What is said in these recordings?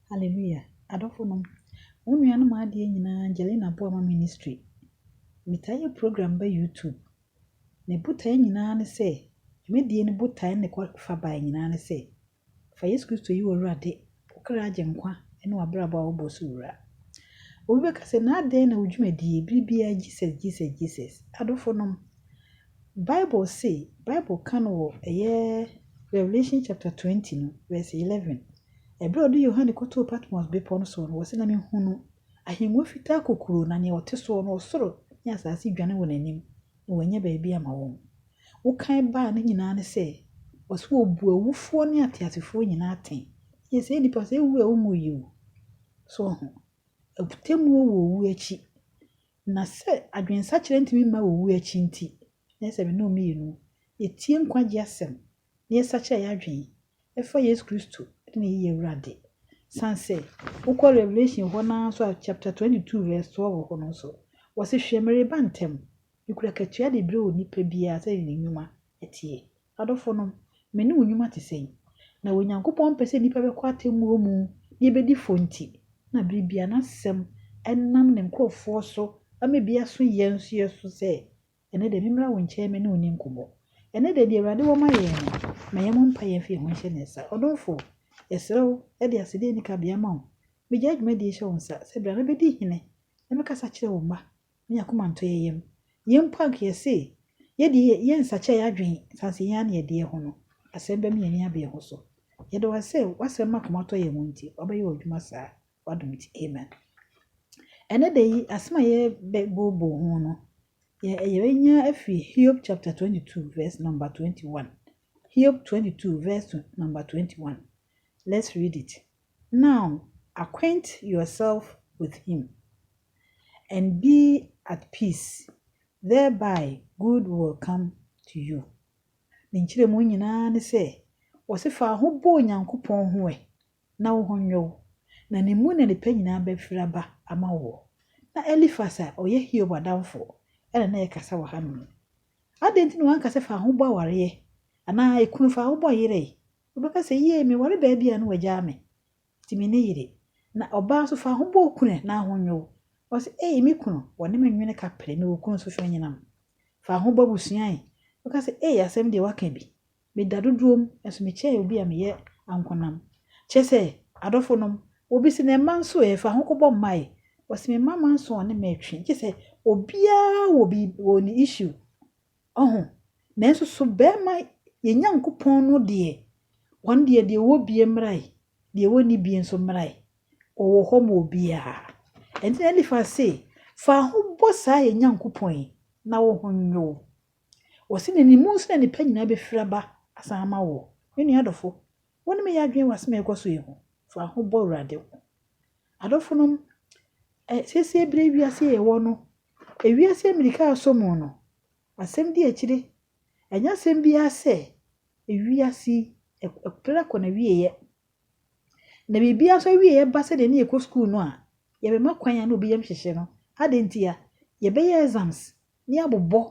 Hallelujah adɔfo nom mo nua nom adeɛ nyinaa Angelina boa ma ministry metaa yɛ program bɛ YouTube ne botae nyinaa ne sɛ dwumadie no botae ne kɔ fa bae nyinaa ne sɛ fa Yesu Kristo yi w'awurade wokra agye nkwa ne w'abrabɔ a wobɔ so wura obi bɛka sɛ na adɛn na wo dwumadie bere biara Jesus Jesus Jesus adɔfo nom Bible se, Bible ka no wɔ ɛyɛ Revelation chapter twenty no verse eleven, Ɛberɛ a ɔde Yohane kɔtoo Patmos bepɔ no soɔ no, ɔse, Na mehunuu ahennwa fitaa kokuroo, na nea ɔte soɔ no, ɔsoro ne asase dwane wɔ n'anim, na wannya baabi amma wɔn. Wokan baa no nyinaa ne sɛ, ɔse wɔbu awufoɔ ne ateasefoɔ nyinaa atɛn. Ɛyɛ sɛ nnipa sɛ ɛwu a wonwuiɛ o. So woaho? Atemmuo wɔ owuo akyi. Na sɛ adwensakyera ntumi mma wowu akyi nti, na ɛsɛ sɛ me ne wo mmienu yɛtie nkwagye asɛm na yɛsakyera yɛn adwene fa Yesu Kristo ne ne yiye wura de. San sɛ wokɔ Revelation hɔ no ara nso a, chapter 22 verse 12 wɔ hɔ no nso, wɔse, Hwɛ, mereba ntɛm, mekura katua de brɛ onipa biara sɛdeɛ ne nnwuma atie. Adɔfonom, me ne wo nnwuma te sɛn? Na Onyankopɔn mpɛ sɛ nnipa bɛkɔ atemmuo mu na yɛbɛdi fɔ nti na berɛ biara N'asɛm nam Ne nkorɔfoɔ so ma bi aso yɛn nso yɛ so sɛ, Ɛnnɛ deɛ memmra wo nkyɛn me ne wo nni nkɔmmɔ. Ɛnnɛ deɛ deɛ Awurade wɔ ma yɛn no, ma yɛmmɔ mpaeɛ mfa yɛn ho nhyɛ Ne nsa. Ɔdomfoɔ, yɛsrɛ wo de asɛdeɛ nni kabea ma wo. Megyae dwumadie yi hyɛ wo nsa sɛ bra na bɛdi hene na bɛkasa kyerɛ wo mma. na hɛn akoma ntɔ hɛn yamu. Hɛn mpo anka yɛse yɛde yɛnnsakyera yɛadwen saase hɛn ano yɛdeɛ ho no, asɛm bɛma hɛn ani abere ho so. Yɛda wo ase sɛ w'asɛm ma akoma tɔ yɛn yamu nti, w'abɛyɛ w'adwuma saa, w'adom nti. Amen. Ɛnnɛ da yi, asɛm a yɛbɛbooboo ho no, yɛbɛnya afiri Hiob chapter 22 verse number 21. Hiob 22 verse number 21. Let's read it. Now acquaint yourself with him, and be at peace, thereby good will come to you. Ne nkyerɛmu nyinaa ne sɛ, wɔse fa wo ho bɔ Onyankopɔn ho ɛ na wo ho nyɛ wo, na ne mu na nnepa nyinaa bɛfiri aba ama woɔ. Na Elifas a ɔyɛ Hiob adamfoɔ na na ɛrekasa wɔ hanom. Adɛn nti na wanka sɛ fa wo ho bɔ awareɛ, anaa kunu fa wo ho bɔ yere, Wobɛka sɛ, Yie, meware baa bi a na wagyaa me, nti menni yere. Na ɔbaa nso, fa ho bɔ okunu ɛ, na aho nnwo wo. Ɔse, Ei, me kunu, wɔne me nwene ka pere, mewɔ kunu nso, hwɛ anyinam. Fa ho bɔ abusua ɛ. Wobɛka sɛ, Ei, asɛm deɛ woaka bi. Meda dodoom, nanso mekyɛn obi a meyɛ ankonam. Kyerɛ sɛ, adɔfonom, obi se, Na mma nso ɛ, fa ho kɔbɔ mma ɛ. Ɔse, Me mma mma nso ɔne me retwe, gye sɛ, obiara wɔ biribi, wɔ ne issue. Ɔho, nanso so barima yɛn Nyankopɔn no deɛ, wɔn deɛ, deɛ ɔwɔ bie mmarae, deɛ ɔnni bie nso mmarae, ɔwɔ hɔ ma obiara. Ɛnti na Elifas se, Fa ho bɔ saa yɛn Nyankopɔn yi, na wo ho nnwo wo. Ɔse na ne mu nso na nnepa nyinaa bɛfiri aba asan ama woɔ. Me nua adɔfo, wo ne me yɛ adwene wɔ asem a ɛrekɔ so yi ho? Fa ho bɔ Awurade ho. Adɔfonom, ɛ, sesie berɛ yi wiase yi a yɛwɔ no, Ewiase mmirika resɔ mu no, asɛm di akyire. Ɛnyɛ asɛm biara sɛ ewiase yi, ɛpere kɔ n'awieeɛ. Na biribiara nso awieeɛ ba sɛdeɛ ne yɛkɔ sukuu no a, yɛbɛma kwan a na obi yam hyehye no. Adɛn ntia? Yɛbɛyɛ exams na yɛabobɔ,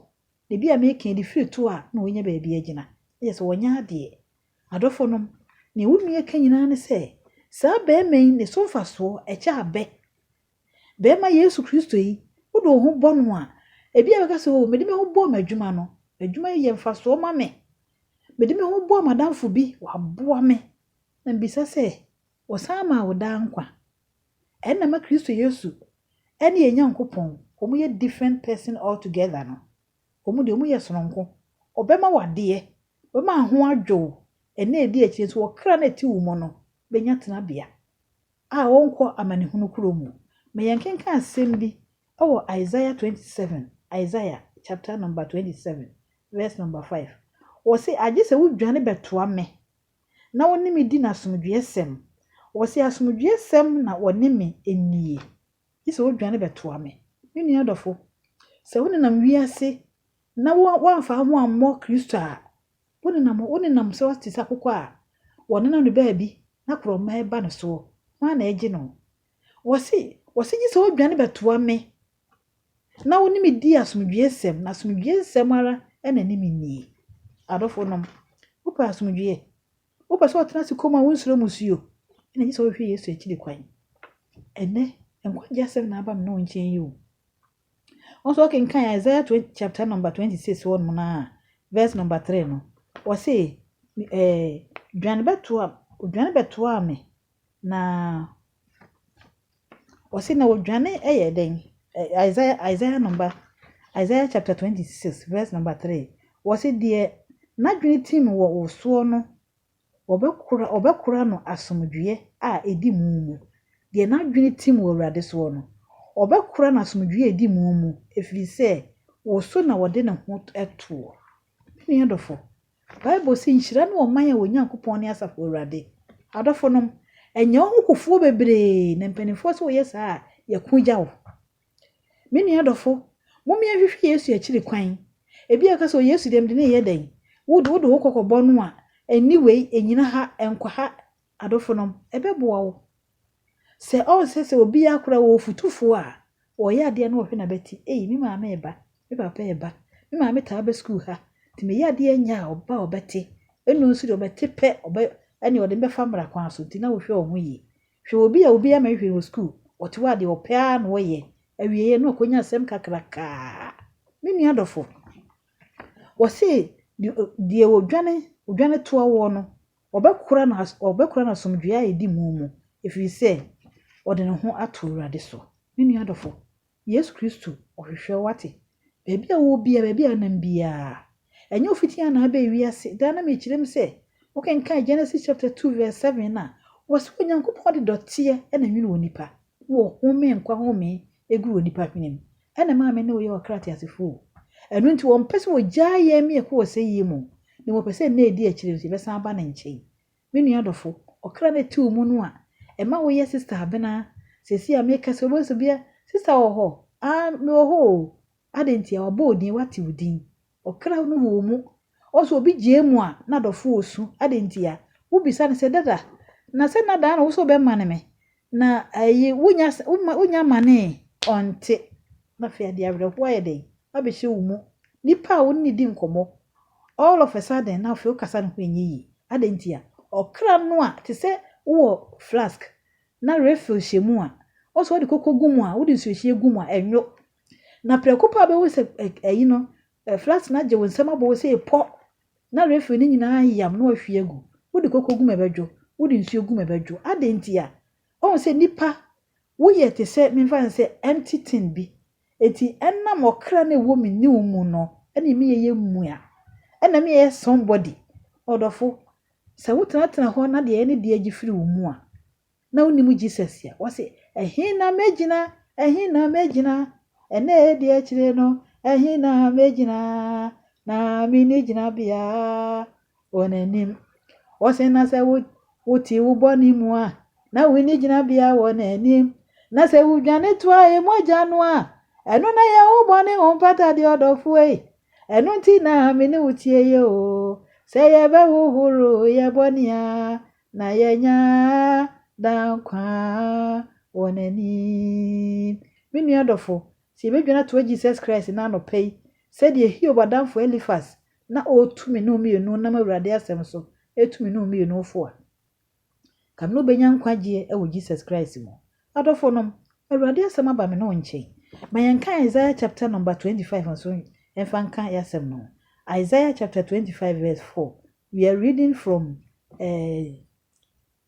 na ebi a meka yi de firi to a na wɔanya baabi agyina. Na kyerɛ sɛ wɔanya adeɛ. Adɔfonom, nea wo nua ka nyinaa ne sɛ, saa barima yi ne so mfasoɔ kyɛ abɛ Barima Yesu Kristo yi, wode wo ho bɔ no a, ebia ɛbɛka sɛ, Oh, mede me ho bɔɔ m'adwuma no. Adwuma yi yɛ mfasoɔ ma me. Mede me ho bɔɔ m'adamfo bi, waboa me, na mebisa sɛ ɔsan maa wo daa nkwa. Ɛna ma Kristo Yesu ne yɛn Nyankopɔn, wɔyɛ different person altogether no. Wɔn deɛ, wɔyɛ sononko. Ɔbɛma wo adeɛ, ɔbɛma wo ho adwo wo, ɛna ɛdi akyire nso, ɔkra no a ɛte wo mu no bɛnya tenabea. a wɔnkɔ amanehunu kuro mu. Ma yɛnkenkan asɛm bi wɔ Isaiah 27, Isaiah chapter number 27 verse number 5. Wɔse, agye sɛ wodwane bɛtoa me na wɔne me di no asomdwoeɛsɛm. Wɔse asomdwoeɛsɛm na wɔne me nnie. Gye sɛ wodwane bɛtoa me. Me nua dɔfo, sɛ wonenam wiase na woamfa wo ho ammɔ Kristo a, Wonenam wonenam sɛ ɔte sɛ akokɔ a wɔnenam no baabi na korɔma reba no soɔ, hwan na ɛregye no? Wɔse, wɔse gye sɛ wodwane bɛtoa me na wo ne me di asomdwoeɛ nsɛm, na asomdwoeɛ nsɛm ara na ɛne me nnie. Adɔfonom, wopɛ asomdwoeɛ? Wopɛ sɛ ɔtena ase komm a wonsuro musuo? Ɛna gye sɛ wohwɛ Yesu akyiri kwan. Ɛnɛ, nkwagyeɛ asɛm na aba me ne wo nkyɛn yi o. Wo nso wokenkan Isaiah twenty chapter number twenty six hɔ nom no a verse number three no wɔse ɛɛ dwane bɛtoa odwane bɛtoa me na wɔse na odwane ɛyɛ dɛn Isaiah Isaiah number Isaiah chapter twenty six verse number three wɔse deɛ n'adwene tim wɔ wo soɔ no Wɔbɛkora wɔbɛkora no asomdwoeɛ a ɛdi mu mu, deɛ n'adwene tim wɔ Awurade soɔ no. Wɔbɛkora no asomdwoeɛ a ɛdi mu mu, ɛfiri sɛ wo so na ɔde ne ho toɔ. Me nua dɔfo, Bible se, Nhyira ne ɔman a wɔn Nyankopɔn ne Asafo Awurade. Adɔfonom, ɛnyɛ wo ho kofoɔ bebree na mpanimfoɔ se woyɛ saa a, yɛko gya wo. Me nua dɔfo, mommea nhwehwɛ Yesu akyiri kwan. Ebia woka sɛ, 'O Yesu deɛ, mede no reyɛ dɛn? Wo de, wode wo kɔkɔbɔ no a, nni wei, nnyina ha, nkɔ ha. Adofonom, ɛbɛboa wo. Sɛ ɔnsɛ sɛ obiara koraa wɔ ɔfotufoɔ a ɔyɛ adeɛ na ɔhwɛ n'abati, ei, me maame reba, me papa reba, me maame taa ba sukuu ha, nti meyɛ adeɛ nyɛ a, ɔba a ɔbɛte, ɛno nso deɛ ɔbɛte pɛ, ɔbɛ, ɛnneɛ ɔde me bɛfa mmara kwan so, nti na wohwɛ wɔn ho yie. Hwɛ obi a obiara mma nhwɛ no wɔ sukuu, ɔte hɔ a deɛ ɔpɛ ara na ɔyɛ, awieeɛ no ɔkɔnya asɛm kakrakaa. Me nua dɔfo, wɔse deɛ odwane odwane toa woɔ no, ɔbɛkora no ɔbɛkora no asomdwoeɛ a ɛdi mu mu, ɛfiri sɛ ɔde ne ho ato Awurade so. Me nua dɔfo, Yesu Kristo, Ɔhwehwɛ wo, ate? Baabi a wowɔ biara, baabi a wonam biara. Ɛnyɛ wo fitiiɛ na abɛn wiase. Daa na mekyerɛ mu sɛ, wokenkan Genesis chapter two verse seven no a, wɔse Onyankopɔn de dɔteɛ na nwene onipa, na ɔhome nkwa home gu onipa hwene mu. Ɛna ɛmaa me ne wo yɛ ɔkra teasefo o. Ɛno nti ɔmpɛ sɛ ɔgyaa yɛn mmiako wɔ sɛyie mu o, na mmom ɔpɛ sɛ nna a ɛdi akyire no nso yɛbɛsan aba ne nkyɛn. Me nua dɔfo, ɔkra no a ɛte wo mu no a ɛma woyɛ sista abena, seesei a merekasa yi wobɛhu sɛ bia sista wɔ hɔ, aah, mewɔ hɔ oo, adɛn ntia, wɔabɔ wo din, wɔate wo din, ɔkra no wɔ wo mu, woahu sɛ obi gyae mu a na dɔfo ɔresu, adɛn ntia, wobisa no sɛ, Dada, na sɛ nna daa na wo sɛ wobɛmane me, na ayi, wonnya, wonnya manee, ɔnte, na afei adeɛ awerɛhoɔ ayɛ dɛn abɛhyɛ wo mu, nipa a wo ne no di nkɔmmɔ, All of a sudden na afei wo kasa no ho nyɛ yie. Adɛn ntia? Ɔkra no a te sɛ wowɔ flask na refill hyɛ mu a, wo sɛ wode koko gu mu a, wode nsuohyie gu mu a, ɛnwo. Na prɛko pɛ a wobɛhu sɛ ayi no, flask no agye wo nsam abɔ wo sɛ epɔ na refill no nyinaa ayam na wahwie agu. Wode koko gu mu a ɛbɛdwo, wode nsuo gu mu a ɛbɛdwo. Adɛn ntia? Woahu sɛ nnipa, woyɛ te sɛ, memfa no sɛ empty tin bi. Enti ɛnam ɔkra no a ɛwɔ me ne wo mu no na me yɛyɛ mua, ɛna me yɛyɛ somebody. Ɔdɔfo, sɛ wo tenatena hɔ na deɛ ne deɛ gye firi wo mu a, na wo nim Jesus a, wɔ se, ɛhe na me gyina, ɛhe na me gyina, ɛnɛ deɛ akyire no, ɛhe na me gyina, na me nni gyina bea, Wɔn anim. Wɔse, Na sɛ wo, wote wo bɔne mu a, na wonni gyinabea wɔ N'anim. Na sɛ wudwane toa E mogya no a, ɛno na ɛyɛ wo bɔne ho mpatadeɛ, ɔdɔfoɔ ei. Ɛno nti na Me ne wo tie yɛ o. Sɛ yɛbɛhohoro yɛn bɔne a, na yɛanya daa nkwa wɔ N'anim. Me nua dɔfo, sɛ yɛbɛdwane atoa Jesus Christ no anɔpa yi, sɛdeɛ Hiob adamfo Elifas na ɔretu me ne wo mmienu nam Awurade asɛm so retu me ne wo mmienu fo a, ka no na ɔbɛnya nkwagyeɛ wɔ Jesus Christ mu. Adɔfo nom, Awurade asɛm aba me ne wo nkyɛn. Ma yɛnka Isaiah chapter number 25 nso mfa nka yɛasɛm no. Isaiah chapter 25 verse 4, we are reading from uh,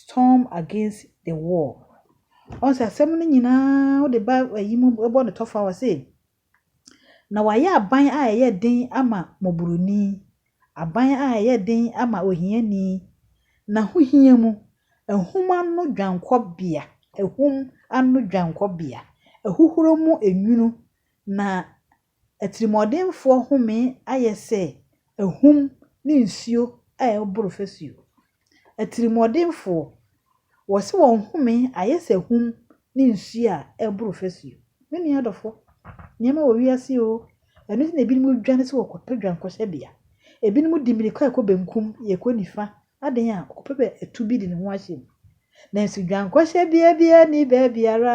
Storm against the wall. Ɔhu sɛ asɛm no nyinaa wode ba ayi mu bɔ no tɔfa wɔ se, Na wɔayɛ aban a ɛyɛ den ama mmɔborɔni, aban a ɛyɛ den ama ohiani, n'ahohia mu, ahum ano dwankɔbea, ahum ano dwankɔbea, ahuhuro mu nwunu, na Atirimuɔdenfoɔ home ayɛ sɛ ahum ne nsuo a ɛreboro fasuo. Atirimuɔdenfoɔ, wɔse wɔn home ayɛ sɛ ahum ne nsuo a ɛreboro fasuo. Me nua adɔfo, nneɛma wɔ wiase o, ɛno nti na ebinom dwane sɛ wɔkɔpɛ dwankɔhyɛbea. Ebinom di mmirika rekɔ benkum, yɛkɔ nifa, adɛn a, ɔkɔpɛ bɛ atu bi de ne ho ahyɛ mu. Nanso dwankɔhyɛbea biara nni baabiara,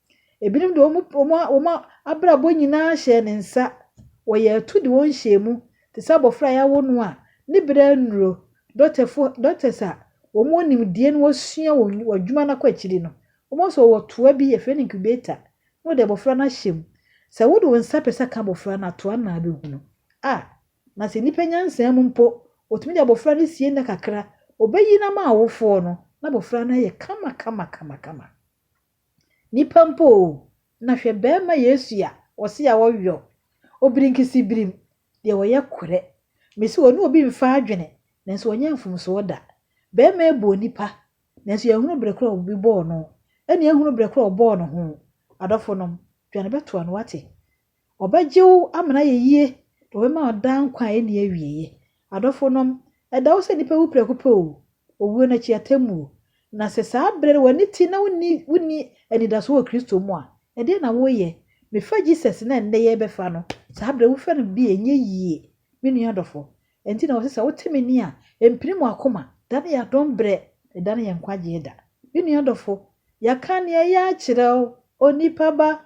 Ebinom de wɔn abrabɔ nyinaa hyɛɛ ne nsa. Wɔyɛɛ atuu de wɔn hyɛɛ mu, te sɛ abofra a yɛawo no a ne bere annuru. Dɔktafo, doctors, a wɔwɔ nimdeɛ na wɔasua wɔ adwuma no kɔ akyiri no, wɔbɛhu sɛ wɔwɔ toa bi, yɛfrɛ no incubator, na wɔde abofra no ahyɛ mu. Sɛ wode wo nsa pɛ sɛ ka abofra no a, toa no na abɛhu no. A Na sɛ nnipa nyansa mu mpo, wɔtumi de abofra no sie nna kakra, wɔbɛyi no ama awofoɔ no, na abofra no ayɛ kama kama kama kama. Nipa mpo o, na hwɛ bɛɛma Yesu a wɔse awɔ yɔ, obirinkisi birim, deɛ ɔyɛ korɛ. Mese ɔne obi mfa adwene, nanso ɔnyɛ mfomsoɔ da. Bɛɛma yi bɔɔ nipa, nanso yɛnhunu berɛ korɔ a obi bɔɔ no, ɛne yɛnhunu berɛ korɔ a ɔbɔɔ ne ho. Adɔfonom, dwane bɛtoa no, wate? Ɔbɛgye wo ama no ayɛ yie, na ɔbɛma wo daa nkwa a ɛnni awieeɛ. Adɔfonom, ɛda hɔ sɛ nnipa wu prɛko pɛ oo, owuo no akyi atemmuo. Na sɛ saa berɛ no w'ani te na wonni wonni anidasoɔ wɔ Kristo mu a, ɛdeɛn na woreyɛ? Mefa Jesus no a ɛnnɛ yɛrebɛfa no, saa berɛ wofɛ no bi a, ɛnyɛ yie. Me nua dɔfo, ɛnti na wɔse sɛ wote me nne a, ɛmpini mo akoma. Da no yɛ adom berɛ, na ɛda no yɛ nkwagyeɛ da. Me nua dɔfo, yɛaka nea ɛyɛ akyerɛ wo, onipa ba.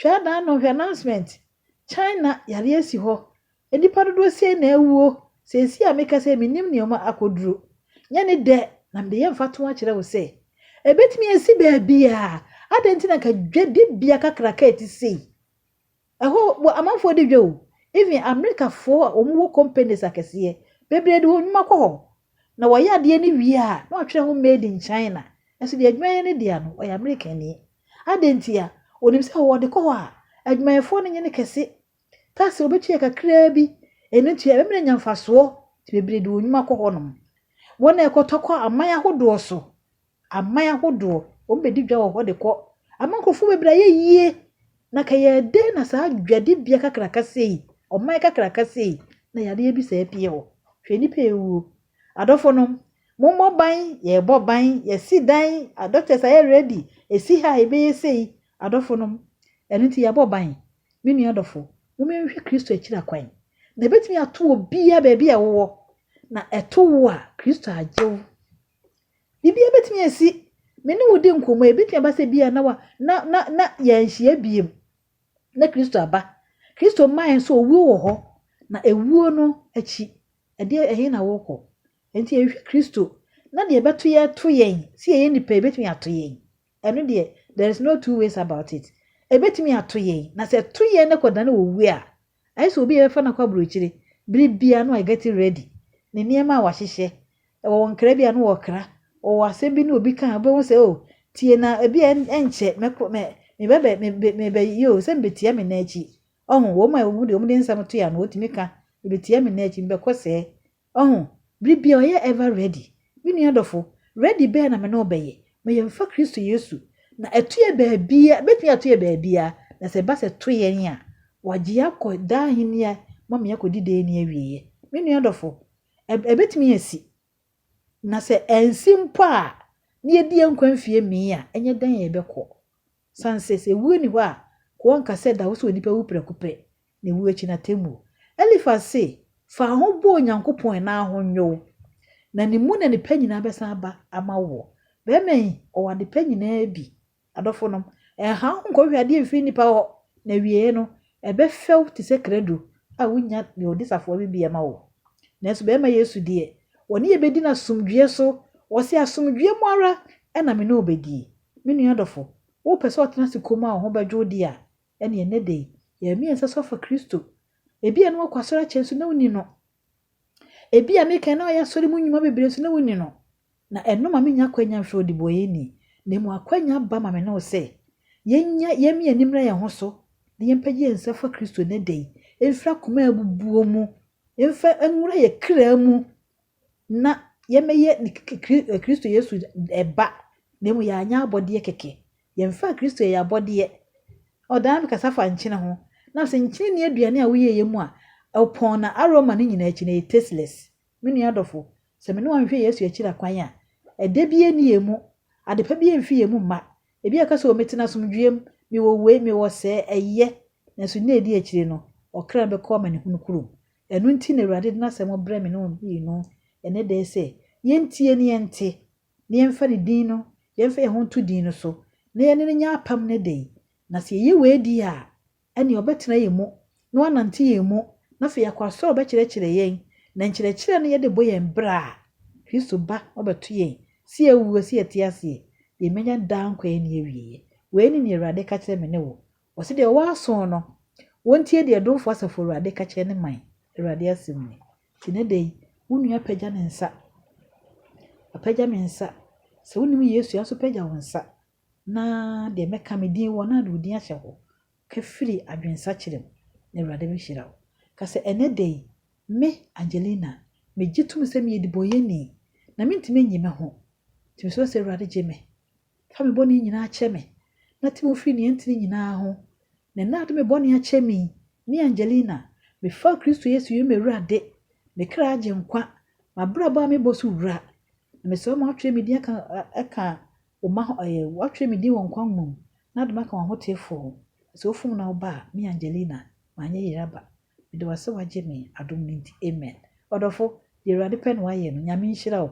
Hwɛ adan no, hwɛ announcement. China yare asi hɔ. Nnipa dodoɔ sei na awuo. Seesei a mekasa yi mennim nea ɔma akɔduru. Nyɛ ne dɛ na mede yɛ mfatoho akyerɛ wo sɛ, ɛbɛtumi asi baabiara. Adɛn nti na anka dwadibea kakraka a ɛte sei? Ɛhɔ wɔ amanfoɔ di dwa o. Even Amerikafoɔ a wɔwɔ companies akɛseɛ bebree de wɔn nnwuma kɔ hɔ. Na wɔyɛ adeɛ no wie a na wɔatwerɛ ho made in China. Nanso deɛ adwumayɛ no dea no, ɔyɛ Amerikani. Adɛn ntia? Ɔnim sɛ ɔwɔ de kɔ hɔ a, adwumayɛfoɔ no nyɛ no kɛse. Tax a ɔbɛtua yɛ kakraa bi. Ɛno nti ɛbɛma no anya mfasoɔ. Nti bebree de wɔn nnwuma kɔ hɔnom. Wɔn a ɛkɔtɔ kɔ aman ahodoɔ so, aman ahodoɔ, wɔbɛdi dwa wɔ hɔ de kɔ. Ama nkurɔfoɔ bebree ayɛ yie. Na ka yɛ dɛn na saa dwadibea kakraka sei, ɔman kakraka sei, na yadeɛ bi saa apue hɔ? Hwɛ nnipa a ɛwuo. Adɔfonom, Mommɔ ban, yɛrebɔ ban, yɛasi dan, doctors ayɛ ready, ɛsi ha a yɛbɛyɛ sei, adɔfonom. Ɛno nti yɛabɔ ban. Me nua dɔfo, momma yɛnhwɛ Kristo akyira kwan. Na ɛbɛtumi ato obiara baabi a wowɔ, na ɛto wo a, Kristo agye wo. Biribiara bɛtumi asi. Me ne wo di nkɔmmɔ yi, ɛbɛtumi aba sɛ bi a na wa, na, na, na yɛanhyia biem, na Kristo aba. Kristo mmaeɛ nso, owuo wɔ hɔ, na ɛwuo no akyi Ɛdeɛ, ɛhe na worekɔ? Enti yɛhwehwɛ Kristo, na deɛ ɛbɛto yɛ to yɛn, sɛ yɛyɛ nnipa a, ɛbɛtumi ato yɛn. Ɛno deɛ, there is no two ways about it. Ɛbɛtumi ato yɛn, na sɛ ɛto yɛn na ɛkɔdane owu a, ayɛ sɛ obi a yɛbɛfa no akɔ aburokyire, bere biara no ɔgɛte ready, ne nneɛma a wahyehyɛ, ɛwɔ nkra bi a no ɔkra, ɔwɔ asɛm bi ne obi ka a, wobɛhu sɛ oh, tie na ɛbi a ɛnkyɛ mɛkɔ, mɛ, mebɛbɛ, mebɛ, mebɛyɛ o, sɛ mebɛtia me nan akyi, Ɔho, wɔn a wɔn de wɔn de nsɛm to ano, wɔtumi ka, Ebetia me nnɛ, akyi mebɛkɔ sɛɛ. Ɔho, bere biara ɔyɛ ever ready. Me nua dɔfo, ready bɛn na me ne wo bɛyɛ? Ma yɛmfa Kristo Yesu. Na ɛto yɛ baabiara, ebetumi ato yɛ baabiara, na sɛ ɛba sɛ ɛto yɛn a, wɔagye yɛn akɔ daa ahenni a ma me akɔdi daa nni awieɛ. Me nua dɔfo, ɛ, ɛbɛtumi asi. Na sɛ ansi mpo a, na yɛadi yɛn nkwa mfie mmee a, ɛnyɛ dɛn a yɛbɛkɔ. Sanses, ewuo nni hɔ a koɔnka sɛ ɛda hɔ sɛ onipa wu prɛko pɛ, na ewuo akyi no atemmuo. Elifas se, Fa wo ho bɔ Onyankopɔn na ho nyɛ wo, na Ne mu na nnepa nyinaa bɛsan aba ama woɔ. Barima yi, ɔwɔ adepa nyinaa bi. Adɔfonom, ɛnha wo ho nkɔhwehwɛ adeɛ mfiri nnipa hɔ, na awieɛ no, Ɛbɛfɛw te sɛ krado a wunya nea ɔde safoa bibia ma wo. Nanso bɛrima Yesu deɛ, wɔne yɛn bedi no asomdwoe so. Ɔse, Asomdwoe mu ara na me ne wo bedi. Me nua dɔfo, wopɛ sɛ ɔtena ase komm a wo ho bɛdwo wo de a, ɛnneɛ nnɛ da yi, yɛn mmiɛnsa so afa Kristo. Ebia na woakɔ asɔre akyɛ nso na wunni no. Ebia me kan a na ɔyɛ asɔre mu nnwuma bebree nso na wunni no, na ɛno ma minnya akwannya mfrɛ wo ɔdebɔneyɛni, na mmom akwannya ba ma me ne wo sɛ yɛnyɛ yɛmmie yɛn ani mmra yɛn ho so na yɛmpagya yɛn nsa mfa Kristo nnɛ da yi mfiri akoma a abubuo mu mfa nwura yɛn kra mu na yɛmmɛyɛ Kristo Yesu ba na mmom yɛanyɛ abɔdeɛ kɛkɛ. Yɛmfaa Kristo yɛ yɛn abɔdeɛ. Ɔdaa me kasa fa nkyene ho. Na ɔse, Nkyene nni aduane a woyɛeɛ mu a ɔpɔn na aroma no nyinaa akyi no ɛyɛ tasteless. Me nua dɔfo, sɛ me ne wo anhwɛ Yesu akyira kwan a, ɛdɛ biara nni yɛn mu, adepa biara mfi yɛn mu mma. Ebi a ka sɛ, O mete no asomdwoeɛ mu, mewɔ wei, mewɔ sɛɛ, ɛyɛ. Nanso nna a ɛdi akyire no, ɔkra no bɛkɔ amanehunu kurom. Ɛno nti na Awurade de n'asɛm brɛ me ne wo mmienu ɛnnɛ da yi sɛ, Yɛntie na yɛnte. na yɛmfa ne din no, yɛmfa yɛn ho nto din no so, na yɛne no nyɛ apam no de, na sɛ yɛyɛ wei di a, ɛnneɛ ɔbɛtena yɛn mu, na wanante yɛn mu, na afei yɛakɔ asɔre a ɔbɛkyerɛkyerɛ yɛn, na nkyerɛkyerɛ no yɛde bɔ yɛn bra a, Kristo ba no bɛto yɛn, sɛ yɛawu o, sɛ yɛte ase e, yɛbɛnya daa nkwa a ɛnni awieɛ. Wei ne deɛ Awurade ka kyerɛ me ne wo. Ɔse deɛ ɔwɔ asoo no, wɔntie deɛ Domfoɔ Asafo Awurade ka kyerɛ ne man, Awurade asɛm nie. Nti ne dɛn? Wo nua apagya ne nsa. Wapagya me nsa. Sɛ wonim Yesu a, nso pagya wo nsa, na deɛ mɛka me din wɔ no a, de wo din ahyɛ hɔ. Ka firi adwensakyera mu, na Awurade bɛhyira wo. Ka sɛ, Ɛnnɛ da yi, me, Angelina, megye tom sɛ meyɛ dibɔnyɛni, na mentumi nnye me ho. Nti mesrɛ sɛ Awurade gye me. Fa me bɔne nyinaa kyɛ me, na te me firi nea ɛntene nyinaa ho. Na ɛnnɛ ade me bɔne akyɛ me yi, me Angelina, mefaa Kristo Yesu yɛ m'Awurade, me kra agyenkwa, m'abrabɔ a mebɔ so wura. Na mesrɛ wo ma wɔatwerɛ me din aka aka wo mma ho ɛɛ wɔatwerɛ me din wɔ nkwa nwoma mu, na wode me aka w'ahoteefoɔ ho. Na sɛ wofom na woba a, me Angelina, manyɛ yere aba. Meda wo ase wagye me adom no nti amen. Ɔdɔfo, deɛ Awurade pɛ na wayɛ no, Nyame nhyira wo.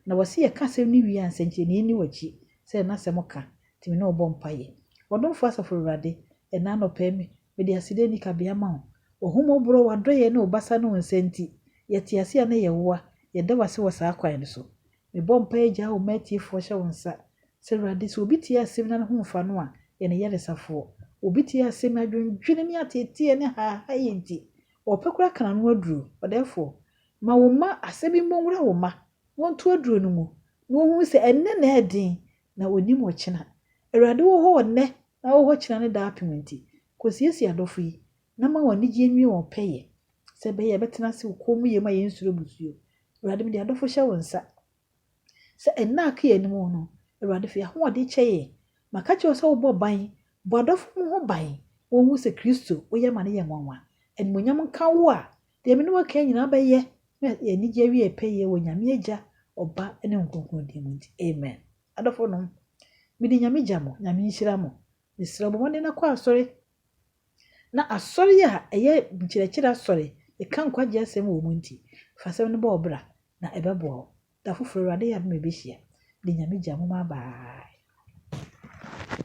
Na wɔse yɛka asɛm no wie a nsɛnkyerɛnee nni wakyi, sɛdeɛ na asɛm ka, nti me ne wo bɔ mpaeɛ. Ɔdomfoɔ Asafo Awurade, ɛnna anɔpa yi me, mede aseda nni kabea ma wo, w'ahummɔborɔ, w'adɔeɛ ne wo basa ne wo nsa nti, yɛte ase a na yɛwoa, yɛda wo ase wɔ saa kwan no so. Mebɔ mpae gyaa wo ma atiefoɔ hyɛ wo nsa. Sɛ Awurade, sɛ obi tie asɛm na ne ho mfa no a, yɛ no yaresafoɔ. Obi tie asɛm na adwendwene ne ateeteɛ ne haahaeɛ nti, ɔpɛ koraa ka n'ano aduro. Ɔdɛɛfoɔ, ma wo mma asɛm yi mmɔ nwura wo mma, na wɔnto aduro no mu, na wɔnhunu sɛ ɛnnɛ na ɛyɛ den, na wɔnnim ɔkyena. Awurade wɔ hɔ nnɛ, na ɔwɔ hɔ kyena ne daapem nti, kɔsiesie adɔfo yi, Na ma wɔn anigyeɛ nwie wɔn pɛyɛ, sɛ ɛbɛyɛ a yɛbɛtena ase wɔ kommyɛ mu a yɛnsuro mmusuo. Awurade, mede adɔfo hyɛ wo nsa, sɛ nna a aka yɛn anim no, Awurade, fa ahoɔden kyɛ yɛn. Maka kyerɛ wo sɛ wobɔ ban, bɔ adɔfo mu ho ban, wɔnhu sɛ Kristo, wo yɛ ma no yɛ nwanwa. Animuonyam nka wo a deɛ me ne wo aka yi nyinaa bɛyɛ, na yɛn anigyeɛ awie yɛn pɛyɛ wɔ Nyame Agya, Ɔba, ne Honhom Kronkron din mu nti, amen. Adɔfo nom, mede Nyame gya mo, Nyame nhyira mo. Mesrɛ wo, bɔ mmɔden na kɔ asɔre, Na asɔre a ɛyɛ nkyerɛkyerɛ asɔre, ɛka nkwagye asɛm wɔ mu nti, fa asɛm no bɔ wo bra, na ɛbɛboa wo. Da foforo, Awurade yɛ adom a yɛbɛhyia. Mede Nyame gya mo ma bye.